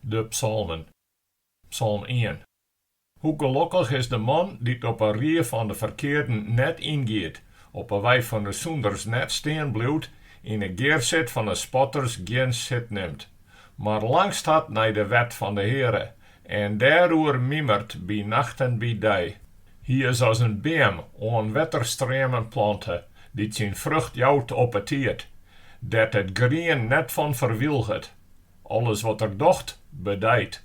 De psalmen. Psalm ien. Hoe gelokkich is de man dy't op 'e rie fan 'e ferkearden net yngiet, op 'e wei fan 'e sûnders net stean bliuwt, yn 'e gearsit fan 'e spotters gjin sit nimt, mar langst hat nei de wet fan de Heare En dêroer mimert by nacht en by dei. Hy is as in beam oan wetterstreamen plante, dy't syn frucht jout op 'e tiid, dêr't it grien net fan ferwylget. Alles wat er docht, bedijt.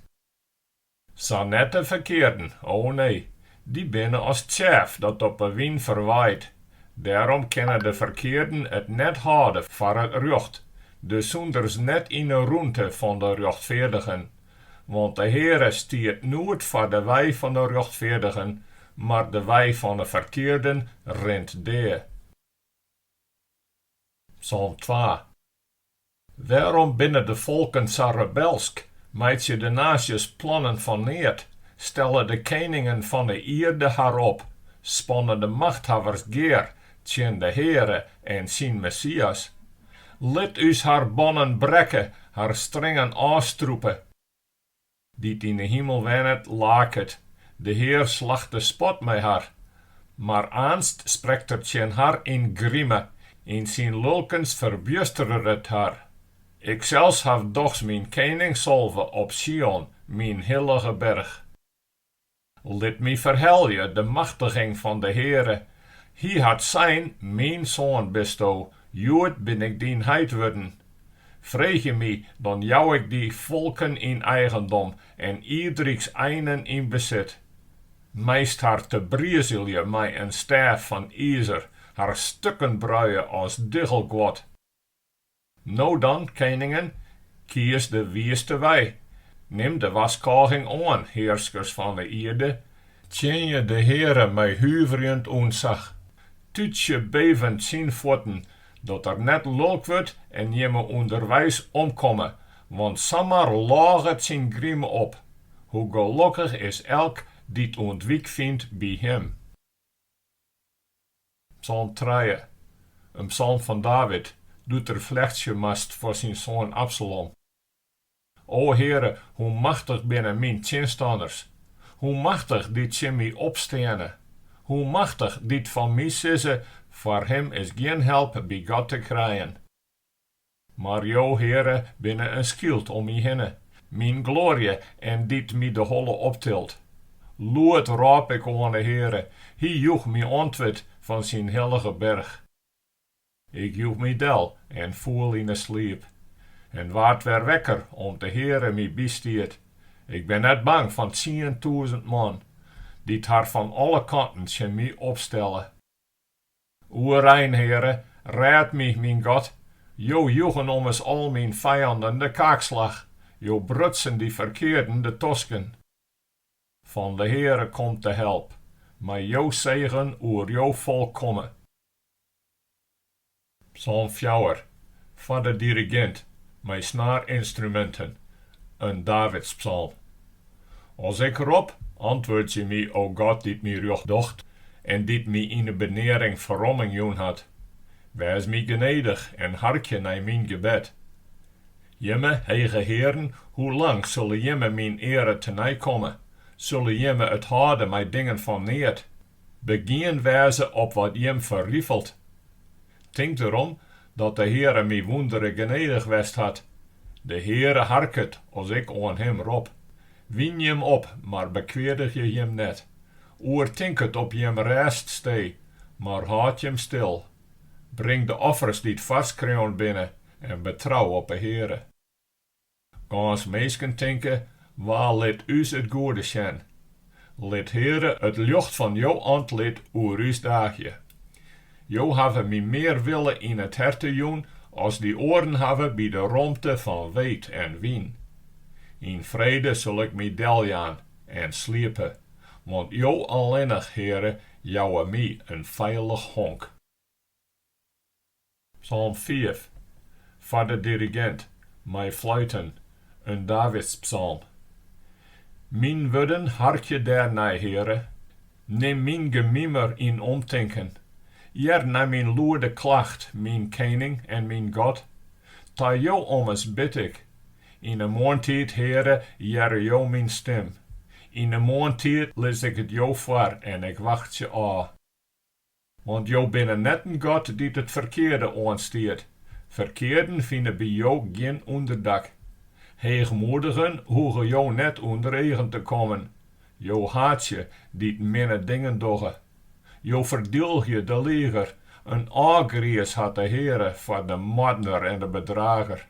Sa net de ferkearden, o nee, dy binne as tsjef dat op 'e wyn ferwaait. Dêrom kinne de ferkearden it net hâlde foar it rjocht, de sûnders net yn 'e rûnte fan de rjochtfeardigen, Want de Heare stiet noed foar de wei fan de rjochtfeardigen, mar de wei fan 'e ferkearden rint dea. Psalm twa. Wêrom binne de folken sa rebelsk, meitsje de naasjes plannen fan neat, stelle de keningen fan 'e ierde har op, spanne de machthawwers gear Tsjin de Heare en syn Messias. Lit ús har bannen brekke, har stringen ôfstrûpe. Dy't yn 'e himel wennet, laket, de Hear slacht de spot mei har. Mar aanst sprekt er tsjin har yn grime, yn syn lulkens ferbjusteret er har. Iksels haw dochs myn kening salve op Sion, myn hillige berch. Lit my ferhelje de machtiging fan de Heare. Hy hat sein, Myn soan bisto, hjoed bin ik dyn heit wurden. Freegje my, dan jou ik dy folken yn eigendom en ierdryks einen yn besit. Meist har tebrizelje mei in stêf fan izer, har stukken bruie as diggelguod. No dan, keningen, kies de wiiste wei, nim de warskôging oan, hearskers fan 'e ierde, tsjinje de Heare mei huverjend ûntsach, tútsje bevend syn fuotten, dat er net lulk wurdt en jimme ûnderweis omkomme, want samar lôget syn grime op. Hoe gelokkich is elk dy't ûntwyk fynt by him. Psalm trije. In psalm fan David, doe't er flechtsje moast foar syn soan Absalom. O Heare, hoe machtich binne myn tsjinstanners! Hoe machtich dy't tsjin my opsteane! Hoe machtich dy't fan my sizze, Foar him is gjin help by God te krijen. Mar jo, Heare, binne in skyld om my hinne, myn gloarje en dy't my de holle optilt. Lûd rôp ik oan 'e Heare, hy joech my antwurd fan syn hillige berch. Ik joech my del en foel yn 'e sliep, en waard wer wekker om't de Heare my bystiet. Ik bin net bang fan tsientûzen man, dy't har fan alle kanten tsjin my opstelle. Oerein, Heare, rêd my, myn God, Jo joegen ommers al myn fijanden de kaakslach, Jo brutsen dy ferkearden de tosken. Fan de Heare komt de help, mei Jo segen oer Jo folk komme. Psalm fjouwer, foar de dirigint, mei snaarinstruminten, in Davidspsalm. As ik rop, antwurdzje my, o God, dy't my rjocht docht en dy't my yn 'e benearing ferromming jûn hat. Wês my genedich en harkje nei myn gebed. Jimme, hege hearen, hoe lang sulle jimme myn eare te nei komme? Sulle jimme it hâlde mei dingen fan neat? Begien wêze op wat jim ferrifelt. Tink derom dat de Heare my wûndere genedich west hat. De Heare harket as ik oan Him rop. Wyn jim op, mar bekweadigje jim net. Oertink it op jim rêststee, mar hâld jim stil. Bring de offers dy't foarskreaun binne en betrou op 'e Heare. Gâns minsken tinke, Wa lit ús it goede sjen? Lit, Heare, it ljocht fan Jo antlit oer ús daagje. Jo hawwe my mear wille yn it herte jûn as dy oaren hawwe by de romte fan weet en wyn. Yn frede sil ik my deljaan en sliepe, want Jo allinnich, Heare, jouwe my in feilich honk. Psalm fiif, foar de dirigint, mei fluiten, in Davidspsalm. Myn wurden harkje dêr nei, Heare, nim myn gemimer yn omtinken, hear nei myn lûde klacht, myn Kening en myn God. Ta Jo ommers bid ik. Yn 'e moarntiid, Heare, hearre Jo myn stim. Yn 'e moarntiid lis ik it Jo foar en ik wachtsje ôf. Want jo binne net in God dy't it ferkearde oanstiet, ferkearden fine by jo gjin ûnderdak. Heechmoedigen hoege jo net ûnder eagen te kommen, jo haatsje dy't minne dingen dogge. Jo ferdylgje de liger, in ôfgriis hat de Heare foar de moardner en de bedrager.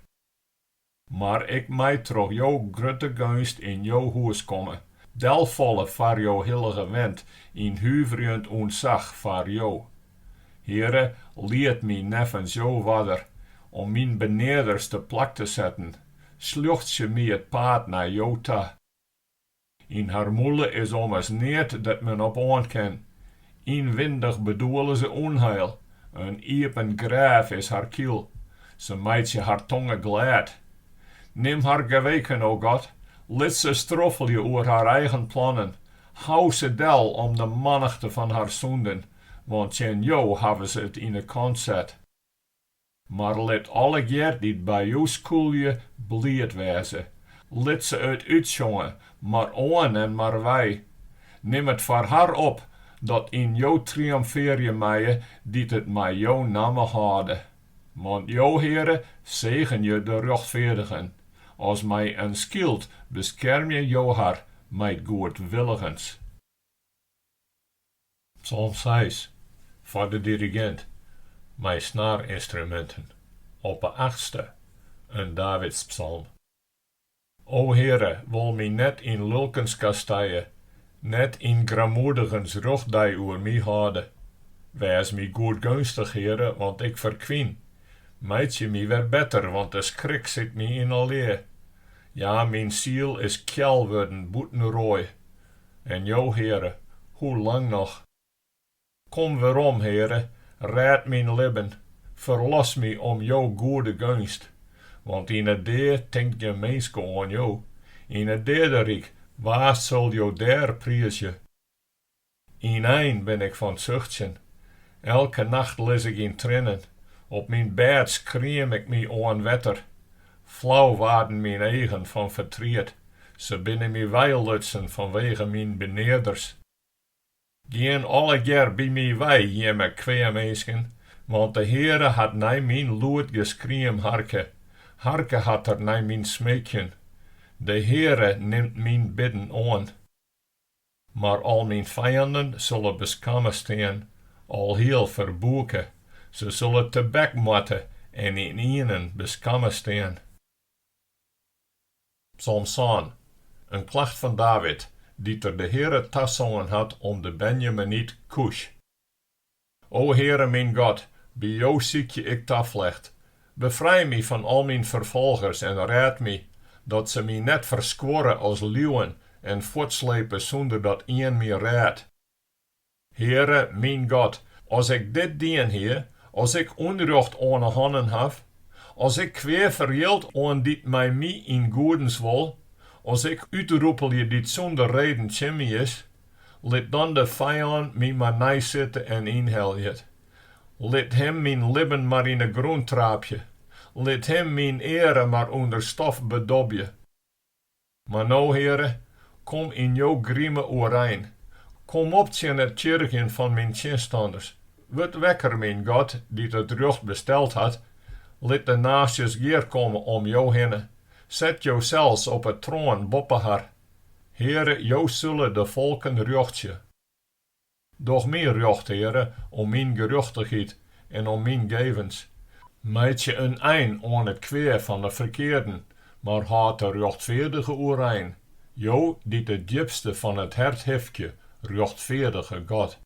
Mar ik mei troch jo grutte geunst yn jo hûs komme, delfalle foar jo hillige went yn huverjend ûntsach foar jo. Heare, lied my neffens jo oarder om myn benearders te plak te setten, sljochtsje my it paad nei jo ta. Yn har mûle is ommers neat dêr't men op oan kin. Ynwindich bedoele se ûnheil. In iepen grêf is har kiel. Se meitsje har tonge glêd. Nim har geweken, o God, lit se stroffelje oer har eigen plannen. Hou se del om de mannichte fan har sûnden, want tsjin jo hawwe se it yn 'e kant set. Mar lit allegear dy't by jo skûlje bliid wêze. Lit se it útsjonge, mar oan en mar wei. Nim it foar har op dat yn jo triomfearje meie dy't it mei jo namme hâlde. Want jo, Heare, segenje de rjochtfeardigen, as mei in skyld beskermje jo har mei goedwilligens. Psalm seis, foar de dirigint, mei snaarynstruminten, op 'e achtste, in Davidspsalm. O Heare, wol my net yn lulkens kastije, net yn grammoedigens rjochtdei oer my hâlde. Wês my goedgeunstich, Heare, want ik ferkwyn, meitsje my wer better, want de skrik sit my yn 'e lea. Ja, myn siel is kjel wurden bûten roai, En jo, Heare, hoe lang noch? Kom werom, Heare, rêd myn libben, ferlos my om jo goede geunst, want yn 'e dea tinkt gjin minske oan jo, yn 't deaderyk, wa sil jo dêr priizje? Ynein bin ik fan 't suchtsjen, elke nacht lis ik yn triennen, op myn bêd skriem ik my oan wetter, Flau waarden myn eagen fan fertriet, se binne my weilutsen fanwege myn benearders. Gean allegear by my wei, jimme kweaminsken, want de Heare hat nei myn lûd geskriem harke, harke hat er nei myn smeekjen. De Heare nimt myn bidden oan. Mar al myn fijannen sulle beskamme stean, alhiel ferbûke, se sulle tebek moatte en ynienen beskamme stean. Psalm sân. In klacht fan David, dy't er de Heare tasongen hat om de Benjaminyt Kûsj. O Heare myn God, by Jo sykje ik taflecht. Befrij my fan al myn ferfolgers en rêd my, dat se my net ferskuorre as liuwen en fuortslepe sûnder dat ien my rêdt. Heare myn God, as ik dit dien hie, as ik ûnrjocht oan 'e hannen haw, as ik kwea ferjild oan dy't mei my yn goedens wol, as ik útrûpelje dy't sûnder reden tsjin my is, Lit dan de fijân my mar neisitte en ynhelje. Lit him myn libben mar yn 'e grûn traapje. Lit him myn eare mar ûnder stof bedobje. Mar no, Heare, kom yn jo grime oerein. Kom op tsjin it tsjirgjen fan myn tsjinstanners. Wurd wekker, myn God, dy't it rjocht besteld hat. Lit de naasjes gearkomme om jo hinne. Set josels op 'e troan boppe har. Heare, Jo sille de folken rjochtsje. Doch my rjocht, Heare, om myn gerjochtichheid en om myn gevens. Meitsje in ein oan it kwea fan de ferkearden, mar hâld de rjochtfeardige oerein, Jo dy't it djipste fan it hert hifkje, rjochtfeardige God.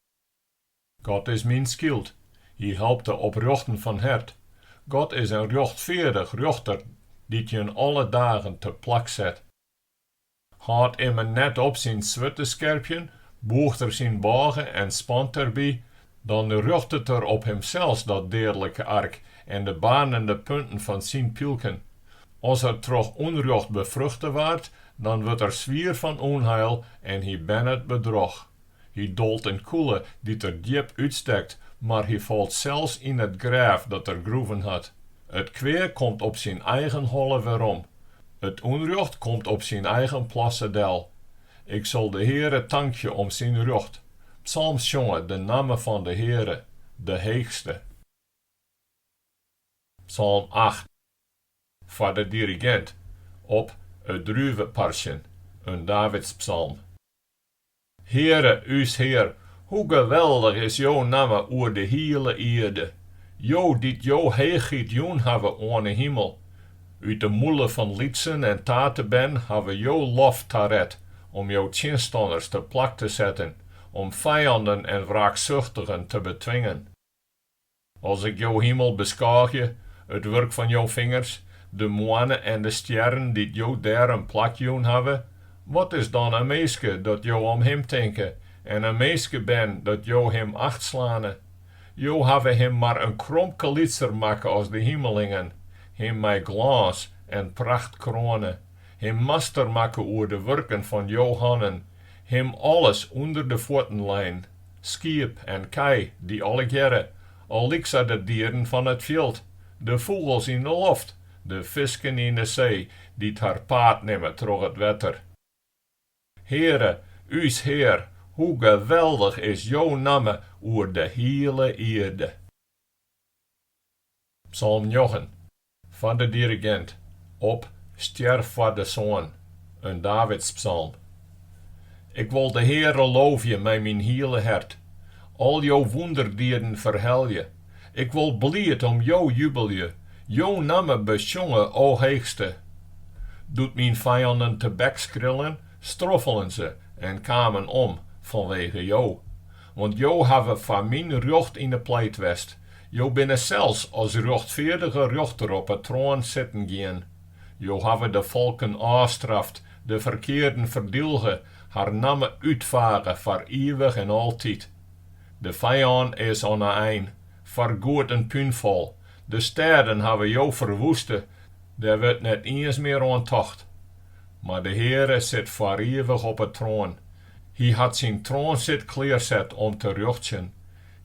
God is myn skyld, Hy helpt de oprjochten fan hert. God is in rjochtfeardich rjochter dy't jin alle dagen te plak set. Hâldt immen net op syn swurd te skerpjen, bûcht er syn bôge en spant derby, dan rjochtet er op himsels dat deadlike ark en de baarnende punten fan syn pylken. As er troch ûnrjocht befruchte waard, dan wurdt er swier fan ûnheil en hy bernet bedroch. Hy dolt in kûle dy't er djip útstekt, mar hy falt sels yn it grêf dat er groeven hat. It kwea komt op syn eigen holle werom, it ûnrjocht komt op syn eigen plasse del. Ik sil de Heare tankje om syn rjocht, psalmsjonge de namme fan de Heare, de Heechste. Psalm acht. Foar de dirigint, op it druveparsjen, in Davidspsalm. Heare, ús Hear, hoe geweldich is Jo namme oer de hiele ierde, Jo dy't Jo heechheid jûn hawwe oan 'e himel. Ut de mûle fan lytsen en tatebern hawwe Jo lof taret om Jo tsjinstanners te plak te setten, om fijanden en wraaksuchtigen te betwingen. As ik jo himel beskôgje, it wurk fan jo fingers, de moanne en de stjerren dy't jo dêr in plak jûn hawwe, wat is dan in minske dat jo om him tinke en in minskebern dat jo him achtslane? Jo hawwe him mar in kromke lytser makke as de himelingen, him mei glâns en pracht kroane, him master makke oer de wurken fan jo hannen, him alles ûnder de fuotten lein. skiep en kij, dy allegearre al lyksa de dieren fan it fjild, de fûgels yn de loft, de fisken yn de see, dy't har paad nimme troch it wetter. Heare, ús Hear, hoe geweldich is jo namme oer de hiele ierde! Psalm njoggen. Foar de dirigint, op Stjer foar de soan, in Davidspsalm. Ik wol de Heare loofje mei myn hiele hert, al jo wûnderdieden ferhelje, ik wol bliid om jo jubelje, jo namme besjonge, o Heechste. Doe't myn fijannen tebekskrillen, stroffelen se en kamen om fanwege jo, want jo hawwe foar myn rjocht yn 'e pleit west Jo binne sels as rjochtfeardige rjochter op 'e troan sitten gien. Jo hawwe de folken ôfstraft, de ferkearden ferdylge, har namme útfage foar ivich en altyd. De fijân is oan 'e ein, foargoed in púnfal. De stêden hawwe jo ferwoeste, dêr wurdt net iens mear oan tocht. Mar de Heare sit foar ivich op 'e troan. Hy hat syn troansit klearset om te rjochtsjen.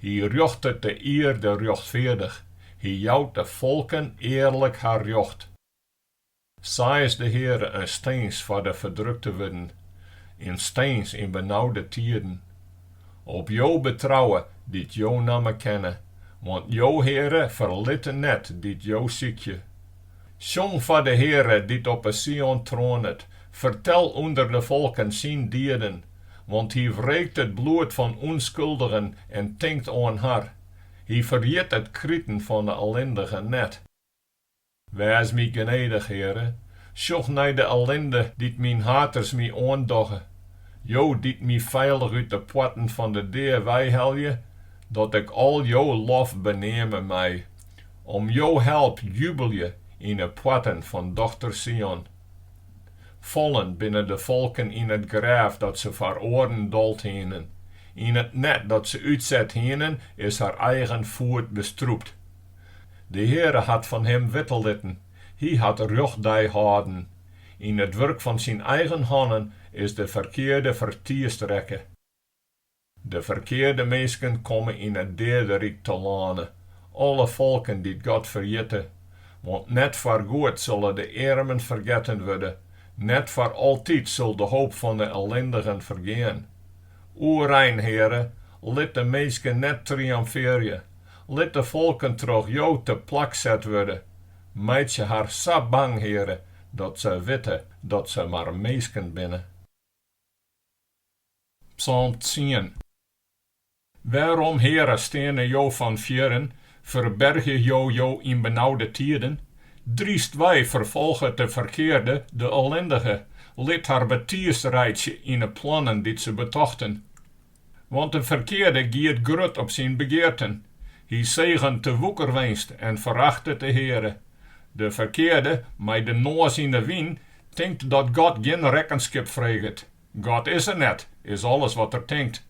Hy rjochtet de ierde rjochtfeardich, hy jout de folken earlik har rjocht. Sa is de Heare in stins foar de ferdrukte wurden, in stins yn benaude tiden. Op Jo betrouwe, dy't Jo namme kenne, want Jo, Heare, ferlitte net dy't Jo sykje. Sjong foar de Heare, dy't op 'e Sion troanet, fertel ûnder de folken syn dieden. want hy wreekt it bloed fan ûnskuldigen en tinkt oan har, hy ferjit it kriten fan 'e ellindigen net. Wês my genedich, Heare, sjoch nei de ellinde dy't myn haters my oandogge, Jo dy't my feilich út de poarten fan de dea weihelje, dat ik al jo lof beneame mei. Om jo help jubelje yn 'e poarten fan dochter Sion. Fallen binne de folken yn it grêf dat se foar oaren dold hienen, yn it net dat se útset hienen is har eigen foet bestrûpt. De Heare hat fan him witte litten, hy hat rjochtdei hâlden, yn it wurk fan syn eigen hannen is de ferkearde fertiisd rekke. De ferkearde minsken komme yn it deaderyk telâne, alle folken dy't God ferjitte. Want net foargoed sulle de earmen fergetten wurde, net foar altyd sil de hoop fan de ellindigen fergean. Oerein, Heare, lit de minsken net triomfearje, lit de folken troch Jo teplak set wurde. Meitsje har sa bang, Heare, dat se witte dat se mar minsken binne. Psalm tsien. Wêrom, Heare, steane Jo fan fjirren, ferbergje Jo Jo yn benaude tiden? Drystwei, ferfolget de ferkearde de ellindige, lit har betiisd reitsje yn 'e plannen dy't se betochten. Want de ferkearde giet grut op syn begearten, hy segent de woekerwinst en ferachtet de Heare. De ferkearde, mei de noas yn 'e wyn, tinkt dat God gjin rekkenskip freget, God is der net, is alles wat er tinkt.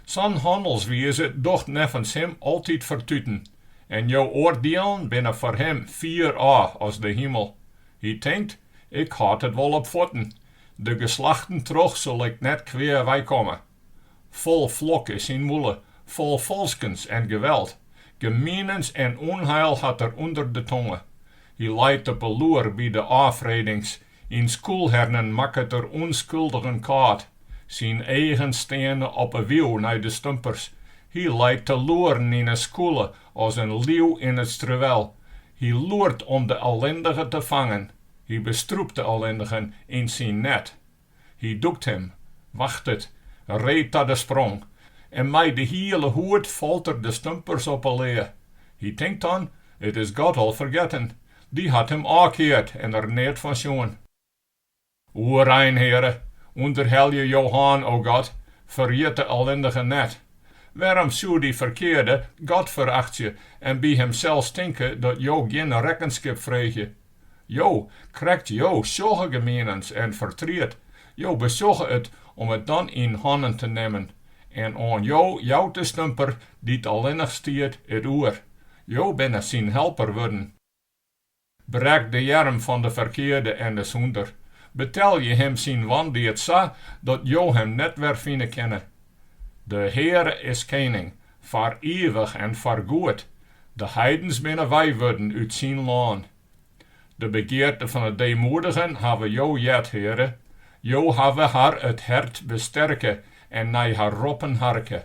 Sa'n hannelswize docht neffens him altyd fertuten, en jo oardielen binne foar him fier ôf as de himel. Hy tinkt, Ik hâld it wol op fuotten, de geslachten troch sil ik net kwea weikomme. Fol flok is syn mûle, fol falskens en geweld, gemienens en ûnheil hat er ûnder de tonge. Hy leit op 'e loer by de ôffredings Yn skûlhernen makket er ûnskuldigen kâld. Syn eagen steane op 'e wiuw nei de stumpers. Hy leit te loeren yn 'e skûle as in liuw yn it struwel. Hy loert om de ellindige te fangen. Hy bestrûpt de ellindigen yn syn net. Hy dûkt him, wachtet, ree ta de sprong en mei de hiele hûd falt er de stumpers op 'e lea. Hy tinkt dan, It is God al fergetten, Dy hat him ôfkeard en der neat fan sjoen. Oerein Heare, ûnderhelje Jo hân, o God, ferjit de ellindige net. Wêrom soe dy ferkearde God ferachtsje en by himsels tinke dat Jo gjin rekkenskip freegje? Jo krekt Jo sjogge gemienens en fertriet, Jo besjogge it om it dan yn hannen te nimmen En oan jo jout de stumper, dy't allinnich stiet, it oer. Jo binne syn helper wurden. Brek de earm fan de ferkearde en de sûnder. Betelje him syn wandied sa, dat jo him net wer fine kinne. De Heare is kening, foar ivich en foargoed. De heidens binne weiwurden út syn lân. De begearte fan 'e deemoedigen hawwe Jo heard, Heare, Jo hawwe har it hert besterke en nei har roppen harke,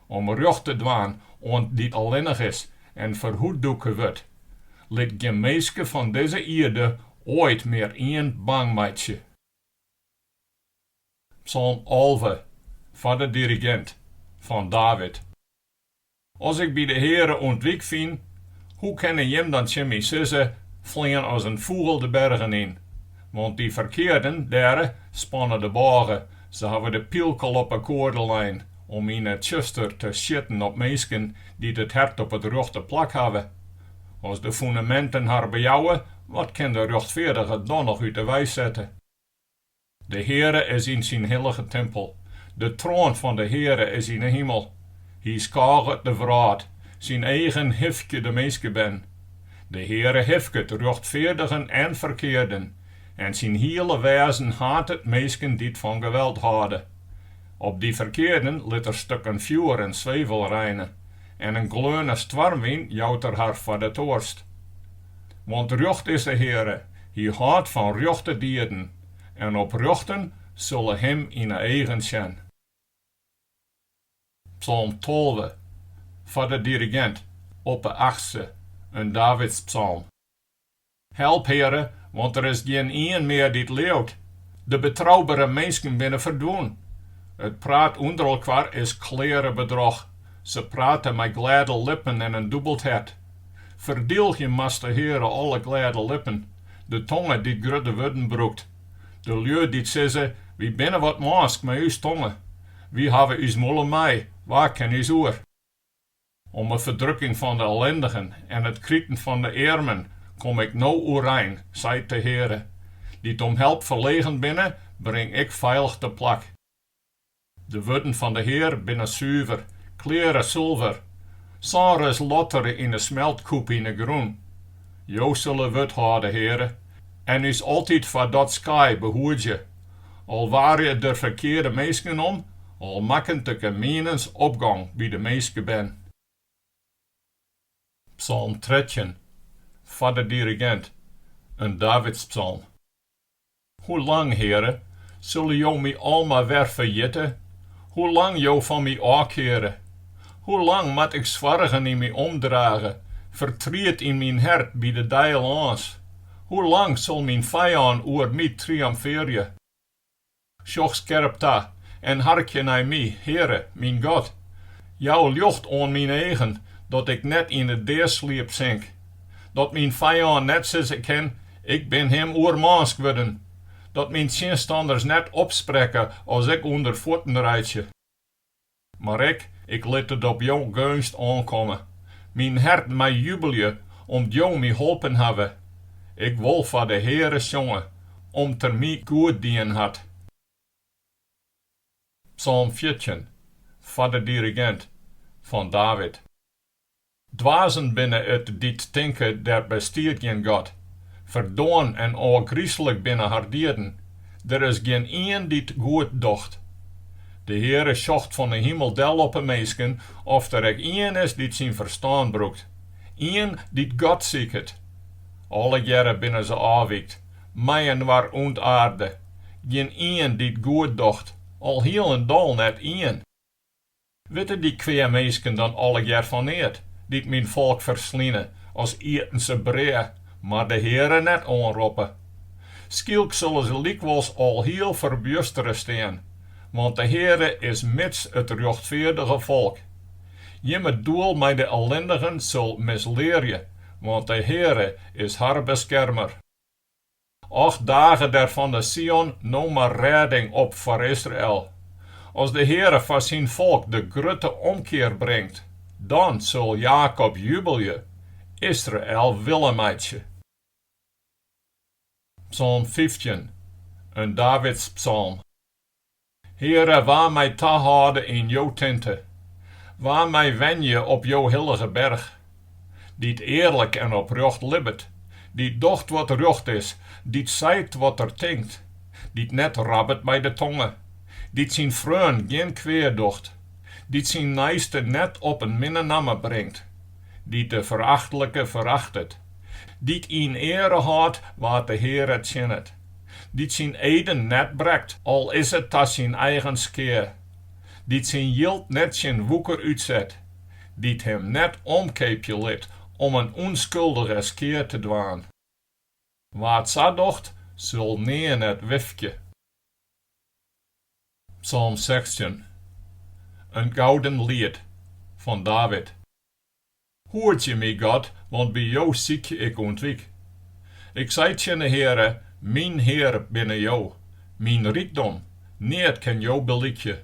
om rjocht te dwaan oan dy't allinnich is en ferhûddûke wurdt. Lit gjin minske fan dizze ierde oait mear ien bang meitsje. Psalm alve, foar de dirigint, fan David. As ik by de Heare ûntwyk fyn, hoe kinne jim dan tsjin my sizze, Flean as in fûgel de bergen yn? Want dy ferkearden dêre spanne de bôge, se hawwe de pylk al op 'e koarde lein, om yn 'e tsjuster te sjitten op minsken dy't it hert op it rjochte plak hawwe. As de fûneminten har bejouwe, wat kin de rjochtfeardige dan noch út 'e wei sette? De Heare is yn syn hillige timpel, de troan fan de Heare is yn 'e himel. Hy skôget de wrâld, syn eagen hifkje de minskebern. De Heare hifket rjochtfeardigen en ferkearden, en syn hiele wêzen hatet minsken dy't fan geweld hâlde. Op dy ferkearden lit er stukken fjoer en swevel reine, en in gleaune stoarmwyn jout er har foar de toarst. Want rjocht is de Heare, hy hâldt fan rjochte dieden, en oprjochten sille him yn 'e eagen sjen. Psalm tolve, foar de dirigint, op 'e achtste, in Davidspsalm. Help, Heare, want der is gjin ien mear dy't leaut, de betroubere minsken binne ferdwûn. It praat ûnderelkoar is kleare bedroch, se prate mei glêde lippen en in dûbeld hert. Ferdylgje moast de Heare alle glêde lippen, de tonge dy't grutte wurden brûkt, de lju dy't sizze, Wy binne wat mânsk mei ús tonge, wy hawwe ús mûle mei, wa kin ús oer? Om 'e ferdrukking fan 'e ellindigen en it kriten fan 'e earmen kom Ik no oerein, seit de Heare, dy't om help ferlegen binne, bring Ik feilich teplak. De wurden fan de Hear binne suver, kleare sulver, sân ris lottere yn 'e smeltkûp yn 'e grûn. Jo sille wurd hâlde, Heare, en ús altyd foar dat skaai behoedzje, al waret it der ferkearde minsken om, al makket de gemienens opgong by de minskebern. Psalm trettjin, foar de dirigint, in Davidspsalm. Hoe lang, Heare, sille Jo my almar wer ferjitte? Hoe lang Jo fan my ôfkeare? Hoe lang moat ik soargen yn my omdrage, fertriet yn myn hert by de dei lâns? Hoe lang sil myn fijân oer my triomfearje? Sjoch skerp ta en harkje nei my, Heare, myn God. Jou ljocht oan myn eagen, dat ik net yn 'e deasliep sink. Dat myn fijân net sizze kin, Ik bin him oermânsk wurden. Dat myn tsjinstanners net opsprekke as ik ûnder fuotten reitsje. Mar ik, ik lit it op jo geunst oankomme. Myn hert mei jubelje, om't jo my holpen hawwe. Ik wol foar de Heare sjonge, om't er my goed dien hat. Psalm fjirtjin, foar de dirigint, fan David. Dwazen binne it dy't tinke der bestiet gjin God. Ferdoarn en ôfgrislik binne har dieden, der is gjin ien dy't goed docht. De Heare sjocht fan 'e himel del op 'e minsken oft der ek ien is dy't syn ferstân brûkt, ien dy't God siket. Allegearre binne se ôfwykt, mei-inoar ûntaarde, gjin ien dy't goed docht, al hielendal net ien. Witte dy kweaminsken dan allegear fan neat, dy't myn folk fersline as ieten se brea, mar de Heare net oanroppe? Skielk sulle se lykwols alhiel ferbjustere stean, want de Heare is mids it rjochtfeardige folk. Jimme doel mei de ellindigen sil mislearje, want de Heare is har beskermer. Och dage der fan de Sion no mar rêding op foar Israel. As de Heare foar syn folk de grutte omkear bringt, dan sil Jakob jubelje, Israel wille meitsje. Psalm fyftjin, in Davidspsalm. Heare, wa mei tahâlde yn jo tinte, wa mei wenje op jo hillige berch, dy't earlik en oprjocht libbet, dy't docht wat rjocht is, dy't seit wat er tinkt, dy't net rabbet mei de tonge, dy't syn freon gjin kwea docht, dy't syn neiste net op in minne namme bringt, dy't de ferachtlike ferachtet, dy't yn eare hâldt wa't de Heare tsjinnet. dy't syn eden net brekt, al is it ta syn eigen skea, dy't syn jild net tsjin woeker útset, dy't him net omkeapje lit om in ûnskuldige skea te dwaan. Wa't sa docht, sil nea net wifkje. Psalm sechstjin. In gouden liet fan David. Hoedzje my, God, want by Jo sykje ik ûntwyk. Ik sei tsjin de Heare, Myn Hear binne Jo, myn rykdom, neat kin Jo belykje.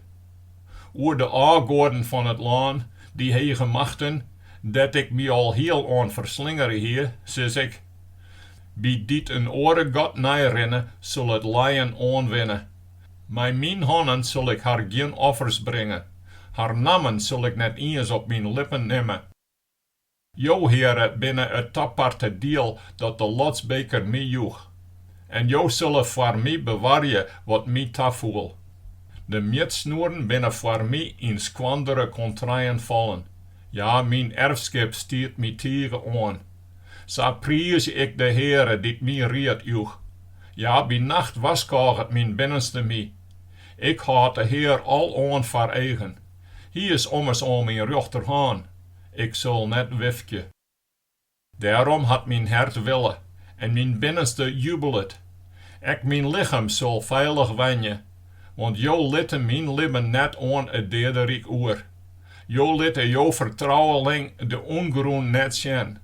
Oer de ôfgoaden fan it lân, dy hege machten, dêr't ik my alhiel oan ferslingere hie, sis ik, By dy't in oare god neirinne, sil it lijen oanwinne. Mei myn hannen sil ik har gjin offers bringe, har nammen sil ik net iens op myn lippen nimme. Jo, Heare, binne it taparte diel dat de lotsbeker my joech, en Jo sille foar my bewarje wat my tafoel. De mjitsnoeren binne foar my yn skoandere kontreien fallen, ja, myn erfskip stiet my tige oan. Sa priizje ik de Heare dy't myn ried joech. Ja, by nacht warskôget myn binnenste my. Ik hâld de Heare aloan foar eagen. Hy is ommers oan myn rjochterhân, ik sil net wifkje. Dêrom hat myn hert wille en myn binnenste jubelet. Ek myn lichem sil feilich wenje, want Jo litte Myn libben net oan it deaderyk oer. Jo litte Jo fertrouweling de ûngrûn net sjen.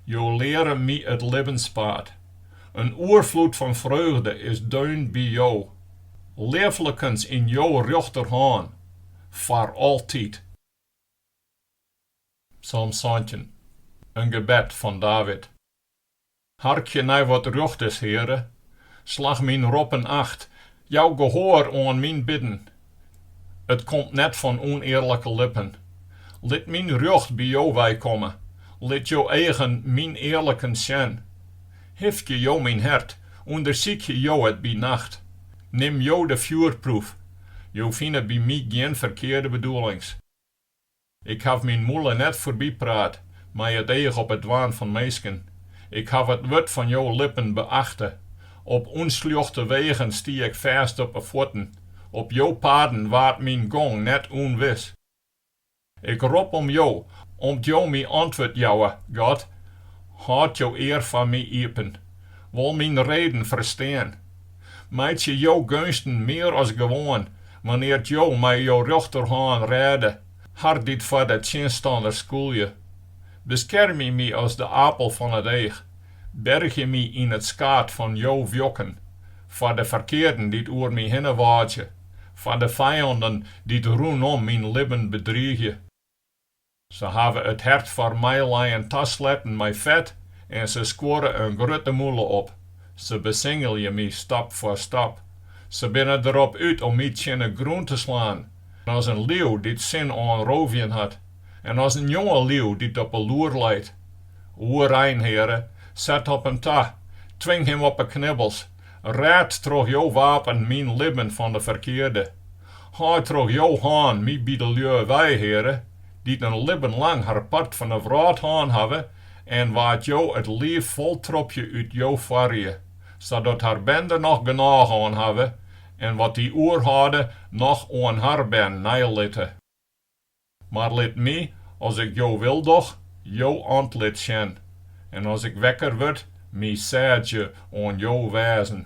Jo leare My it libbenspaad. In oerfloed fan freugde is deun by Jo. Leaflikens yn Jo rjochterhân, foar altyd. Psalm santjin. In gebed fan David. Harkje nei wat rjocht is, Heare, slach myn roppen acht, jou gehoar oan myn bidden. It komt net fan ûnearlike lippen. Lit myn rjocht by jo weikomme, lit jo eagen myn earlikens sjen. Hifkje jo myn hert, ûndersykje jo it by nacht. Nim jo de fjoerproef, jo fine by my gjin ferkearde bedoelings. Ik haw myn mûle net foarbypraat mei it each op it dwaan fan minsken. Ik haw it wurd fan jo lippen beachte. Op ûnsljochte wegen stie ik fêst op 'e fuotten, op jo paden waard myn gong net ûnwis. Ik rop om jo, om't jo my antwurd jouwe, God, hâld jo ear foar my iepen. Wol myn reden ferstean. Meitsje jo geunsten mear as gewoan, wannear't jo mei jo rjochterhân rêde, har dy't foar de tsjinstanner skûlje. Beskermje my as de apel fan it each, bergje my yn it skaad fan jo wjokken, foar de ferkearden dy't oer my hinne wâdzje, foar de fijannen dy't rûnom myn libben bedriigje. Se hawwe it hert foar meilijen tasletten mei fet en se skuorre in grutte mûle op. Se besingelje my stap foar stap. Se binne derop út om my tsjin 'e grûn te slaan, as in liuw dy't sin oan roofjen hat en as in jonge liuw dy't op 'e loer leit. Oerein, Heare, set op him ta, twing him op 'e knibbels, Rêd troch jo wapen myn libben fan de ferkearde. Helje troch jo hân my by de lju wei, Heare, dy't in libben lang har part fan de wrâld hân hawwe en wa't jo it liif foltropje út jo foarrie, sadat har bern der noch genôch oan hawwe en wat dy oerhâlde noch oan har bern neilitte. Mar lit my, as ik jo wil doch, jo antlit sjen, en as ik wekker wurd, my sêdzje oan jo wêzen.